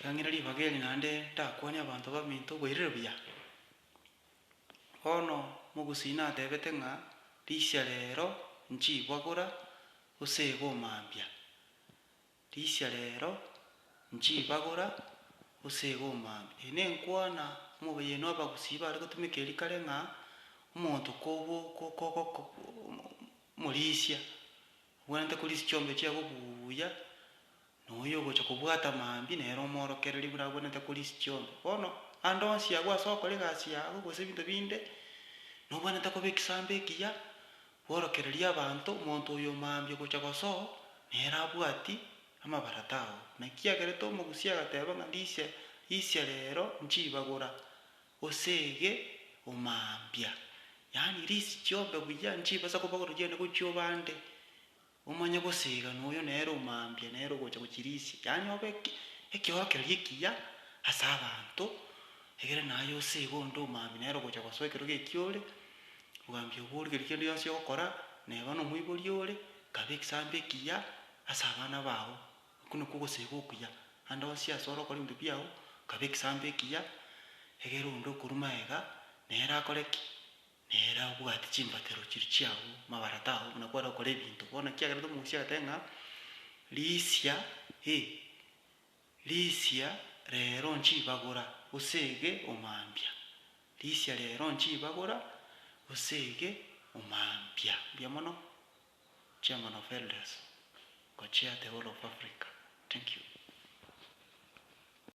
Ngang'ire ribaga eri naende ndakwanie abanto baminto oboirire buya. Bono mogusii natebete ng'a risia reero nchibagora gose egoma mbia, risia reero nchibagora gose egoma mbia. Eyi nenkwana omobayeenu abagusii bare gotumeka eeri kare ng'a omonto kobo kogoko omorisia, obwenerete korisia chiombe chiago buuya, Na oyo ogocha kobwata amaambia nere omoorokereria buna agwenerete kore inse chionsi. Bono, ande onsi agwo ase ogokora egasi yao, gose ebinto binde, nobwenerete koba egesaamba ekiya, bworokererie abanto, omonto oyo omaambia ogocha gosoo, nere abwati amabarata ao. Naki agerete omogusia agateeba ng'a ndisia isia reero nchibagora, oseege omaambia. Yaani ria inse chiombe buya, nchibasa kobagora oria ende gochia obande. Omanye gosiga noyo nere omambia nere ogocha gochirisia, yaani obe ekeorokererio ekiya ase abanto, egere naye osege onde omambia nere ogocha gosoa ekero gekia ore, omambia obo origereria kende gionsi ogokora, neba nomoibori ore, kaba egesaamba ekiya ase abana bao. Okwo nokwo ogosega okuya, ande onsi ase ore okore ebinto biao, kaba egesaamba ekiya, egere onde okorwa magega nere akore ki? Nere abwate chimbatero chiria chi'agwo mabarata ao buna kware gokora ebinto bono, ekiagera tomorusia agoteba ng'a, Risia, e, risia reero nchibagora, gose ege omambia, risia reero nchibagora, gose ege omambia. Mbuya mono, Chairman of Elders, ngochea the whole of Africa. Thank you.